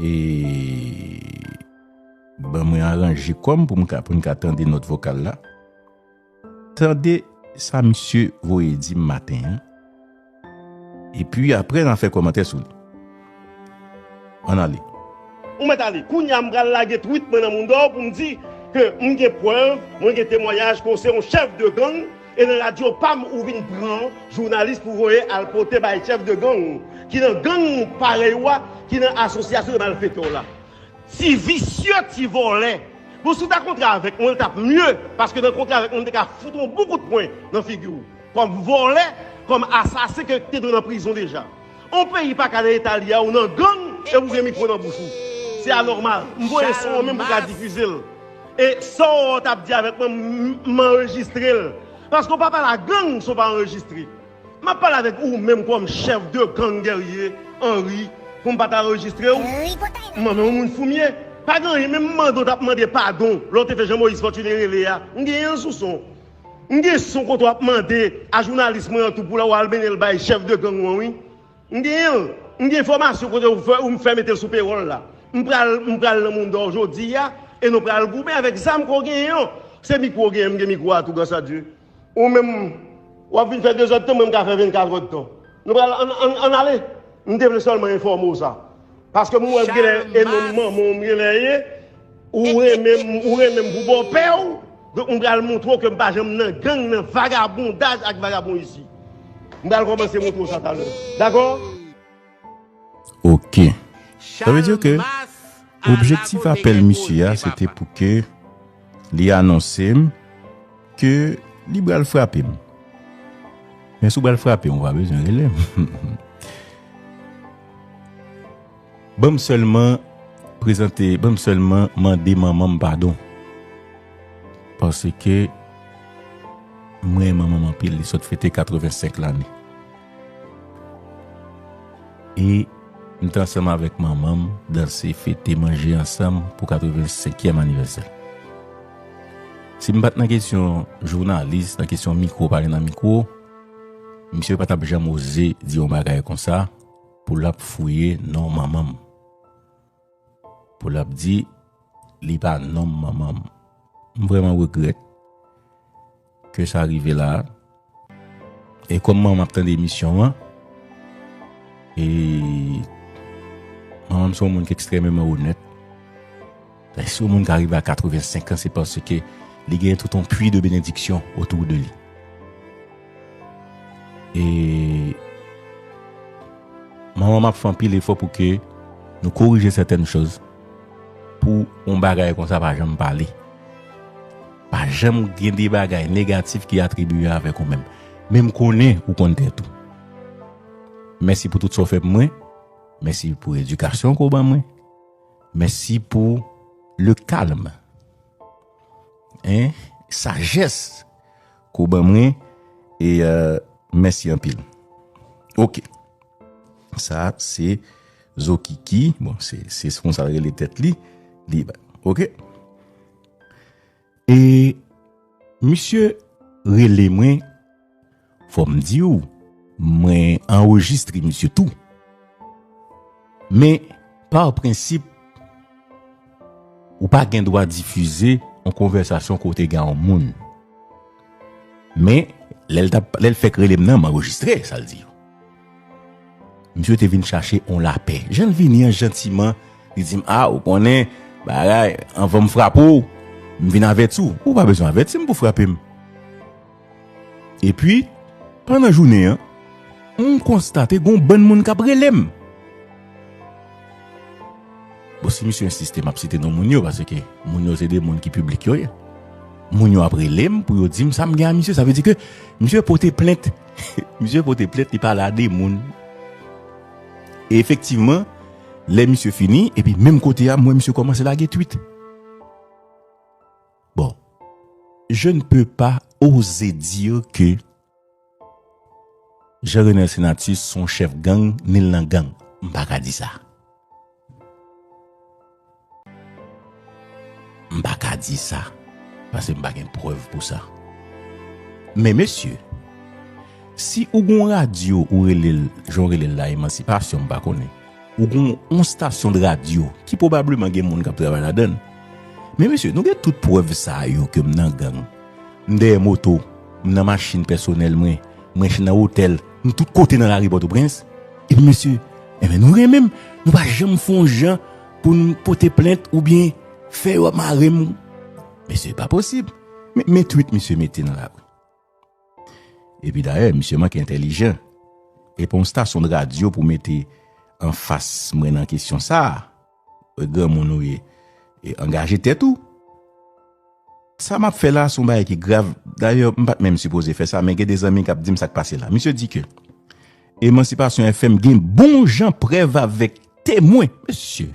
E ban mwen aranje kòm pou mwen ka tande nòt vokal la. Tande sa misye voye di m maten an. E pi apre nan fè kòmantè sou li. An ale. Ou mèt ale. Kounye a m pral lage twit mwen nan mounda w pou m di ke m gen prèv, mwen gen temwanyaj ke w se yon chèf de gang. E nan radio pam ou vin pran jounalis pou voye al pote bay chef de gang ki nan gang parey ou a ki nan asosyasyon de malfeteur la. Ti visye ti volè. Bon si w ta kontre avek mwen l tap mye paske nan kontre avek mwen m te ka fout on bon kout pwen nan figi w kom volè kom asasen ke te dwe nan prizon deja. On peyi pa ka nan eta li a ou nan gang epi ou gen mikro nan bouch ou. Se anòmal. M voye son an menm pou w ka difize l. E sa w t ap di avèk mwen m anrejistre l. Paske w pa pale a gang si w pa anrejistre. M ap pale avèk ou menm kòm chèf de gang Guerrier Henri pou m pa ta anrejistre w. M an menw moun fou m ye. Pa gen anyen menm mande w t ap mande padon lè w te fè Jean Moïse Fortuné rele a. M gen an sou son. M gen son kote wap mande a jounalis mwen an tou pou la wal mennen l bay chèf de gang ou an wi. M genyen l. M gen enfòmasyon kote ou fè ou m fè mete l sou pewòl la. M pral m pral nan mondor jodi a e nou pral goumen avèk zam ke w genyen an. Se mikwo ou genyen m gen mikwo a tou gras a Dye. Ou menm wap vin fè dezòd tan mwen m ka fè vennkatròd tan. Nou pral an an an ale. M te vle sèlman enfòme w sa. Paske m wè genlè e non manman w m genlè ye, ou renmen m pou bòpè w, donk m pral montre w ke m pa janm nan gang, nan vagabondaj ak vagabondisi. M pral kòmanse montre w sa talè. Dakò? Ok. Sa vle di ke objektif apèl misye a se te pou ke. Li anonse m ke li bral frape m. Men si w bral frape m, ou pa bezwen rele m. Ban m sèlman prezante, ban m sèlman mande manman m padon. Paske mwen renmen manman m anpil, li sot fete 85 lane. E m te ansanm avèk manman m danse, fete, manje ansanm pou 85 kièm anivèsè. Si m pat nan kesyon jounalis, nan kesyon mikwo pale nan mikwo, misye pa tap janm oze di yon bagay konsa pou lap fouye non manman m. Pou lap di li pa nonm manman m. M vrèman regrèt. Ke sa rive la a. E kòm manman ap tande emisyon an. E manman m son moun ki ekstrememan onèt. E si yon moun ka rive a 85 an se paske li gen tout yon pwi de benediksyon otou de li. E manman m ap fè anpil efò pou ke nou korije sètèn chòz pou yon bagay konsa pa janm pale. Pa janm gen de bagay negatif ki atribiye avèk ou menm. Men m konnen ou konn tèt ou. Mèsi pou tout sa w fè pou mwen. Mèsi pou edikasyon ke w ban mwen. Mèsi pou le calme. Sajès ke w ban mwen. E mèsi anpil. Ok. Sa se Zokiki. Bon, se konsa l rele tèt li. Ok. E misye rele mwen fò m di w mwen anrejistre misye tou men pa prensip ou pa gen dwa difize yon konvèsasyon kote gen yon moun. Men, lè l t ap, lè l fèk rele m nan, m anrejistre sa l di yo. Misye te vin chache yon lapè. Jan l vini an, jantiman, li di m, A, ou konnen, bagay, anvan m frape w, m vin avèti w. Ou pa bezwen avèti m pou w frape m. Epi, pandan jounen an, m konstate gen yon bann moun k ap rele m. Bon si misye ensiste map site non moun yo paske moun yo se de moun ki piblik yo ye. Moun yo ap rele m pou yo di m sa m gen a misye sa vle di ke misye pote plent misye pote plent li pale a de moun. E efektivman lè misye fini epi menm kote a m wè misye kòmanse lage twit. Bon je ne peux pas oser dire que. Jean Renel Senatus son chef gang nil nan gang m paka di sa m paka di sa paske m pa gen prèv pou sa men mesye si ou gon radyo ou relel jan ou relel la emansipasyon m pa konnen ou gon on stasyon de radyo ki pwobableman gen moun kap travay ladann men mesye nou gen tout prèv sa yo ke m nan gang. M dèyè moto, m nan machin pèsonèl mwen, m renche nan otèl, m tout kote nan lari Pòtoprens. Epi mesye, Enben nou renmen m, nou pa janm fè yon jan pou n pote plent oubyen fè yo ap mare m. Mesye, Pa posib. Men, men twit misye mete nan lari. Epi dayè, misye manke entèlijan. E pa yon stasyon de radyo pou mete anfas mwen nan kesyon sa a. Granmoun ou ye e angaje tèt ou. Sa map fè la son bagay ki grav, dayè m pat menm sipoze fè sa men gen de zanmi kap dim sak pase la. Misye di ke Emancipation FM gen bon jan prèv avèk temwen. Mesye!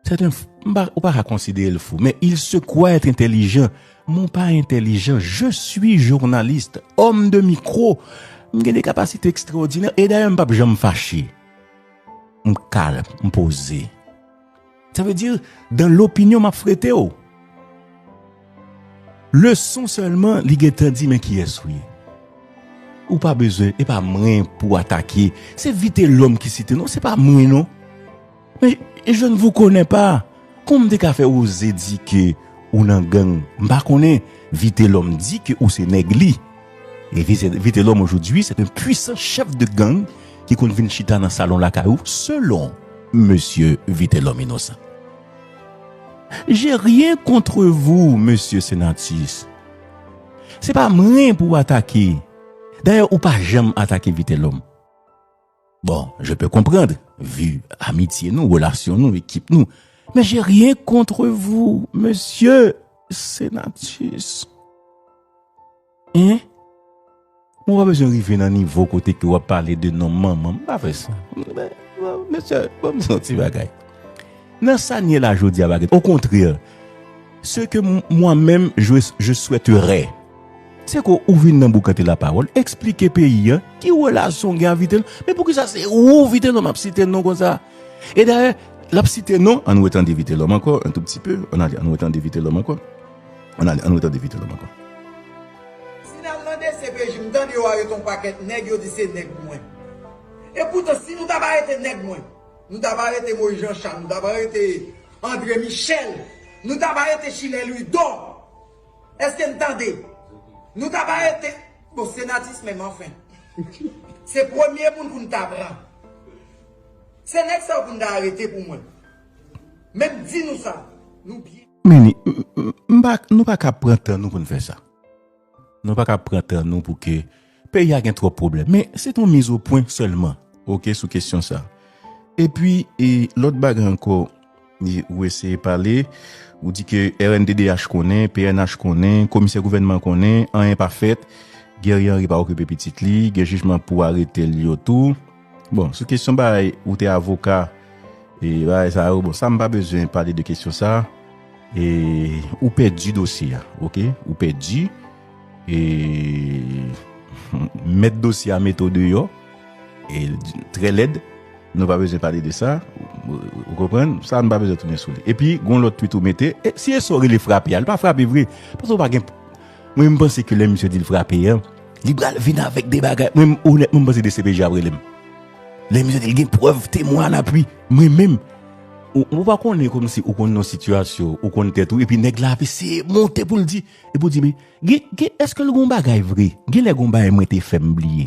Sèten fwa ou pa ka konsidere l fou men il se kwa èt entelijan. Mwen pa entelijan, je sui journaliste, homme de micro. M gen de kapasite ekstraòdinè e dayè m pap janm fache. M kal, m poze. Sa vle di, dan lopinyon map frete w. Leson sèlman li gen tan di men kiyès ou ye. Ou pa bezwen, e pa mwen pou w atake. Se Vitelòm ki site non, se pa mwen non. Men, je ne vous connais pas. Kon m te ka fè Roze di ke ou nan gang? M pa konnen. Vitelòm di ke ou se nèg li. E Vitelòm ojodwi sèt en pwisan chèf de gang ki konn vin chita nan salon lakay ou selon mesye Vitelòm inosan. J'ai rien contre vous mesye Senatus. Se pa mwen pou w atake. Dayè ou pa janm atake Vitelòm. Bon, je peux comprendre, vu amitye nou, relasyon nou, ekip nou, men je rien contre vous, mesye Senatus. Hein? Mwen pa bezwen rive nan nivo kote ke wap pale de non manman, mwen pa fè sa. Mesye, banm di yon ti bagay. Nan sa n ye la jodi a pa gen, au contraire, ce que moi-même je souhaiterais, Seko ou vin nan boukante la pawol esplike peyi an ki relasyon gen a vitelom men poukisa se ou vitelom ap site non konsa e dayè lap site non an wè tande vitelom ankò an tou pti pe an ale an wè tande vitelom ankò an ale an wè tande vitelom ankò. Si nal nan dcpj m tande yo arete yon pakèt nèg yo di se nèg mwen e poutan si nou tap arete nèg mwen nou tap arete Moïse Jean Charles nou tap arete André Michel nou tap arete Schiller Louidor Eske n tande? Nou tap arete Bon se Natis menm anfen Se premye moun pou n ta pran Se nèg sa yo pou n ta arete pou mwen Men m di nou sa Nou byen Meni, m pa Nou pa ka pran tan nou pou n fè sa Nou pa ka pran tan nou pou ke Peyi a gen twòp pwoblèm. Men, se te yon miz o pwen sèlman, oke, sou kesyon sa. E pi, e lòt bagay ankò, e ou eseye pale, ou di ke rnddh konnen, pnh konnen, komisè gouvènman konnen, anyen pa fèt, Guerrier Henry pa okipe pitit li, gen jijman pou arete l yo tou. Bon, sou kesyon bagay ou te avoka e bagay sa yo, bon sa m pa bezwen pale de kesyon sa a. E ou pèdi dosye a, ok? Ou pèdi e mèt dosye a mete w deyò e trè lèd. Nou pa bezwen pale de sa. Ou konprann? Sa a nou pa bezwen tounen sou li. Epi, gon lòt twit ou mete. E si e sa w rele frape a? Li pa frape vre. Paske ou pa gen Mwen m panse ke lè misye di l frape an. Li pral vin avèk de bagay. Mwen menm onètman m panse dcpj ap rele m. Lè misye di li gen prèv, temwen a lapui. Mwen menm. Ou pa konnen kòmsi ou konn yon sitiyasyon, ou konn tèt ou epi nèg la ap eseye monte pou l di. Epi ou di men, gen, gen, èske l gen yon bagay vre? Genlè gen yon bagay mwen te fè m bliye.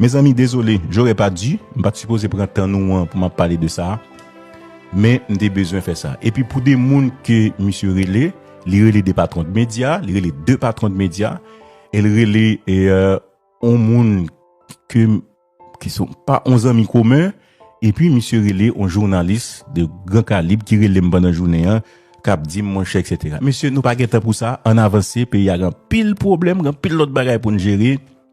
Mezanmi dezole, j'aurais pas dû, m pat sipoze pran tan nou an pou map pale de sa, men m te bezwen fè sa. Epi pou 2 moun ke misye rele, li rele 2 patron de media, li rele 2 patron de media, e l rele on moun ke m ki son pa on zanmi komen, epi misye rele on jounalis de gran kalib ki rele m pandan jounen an, kap di m monchè eksetera. Mesye nou pa gen tan pou sa, ann avanse, peyi a gen anpil pwoblèm, gen anpil lòt bagay pou n jere.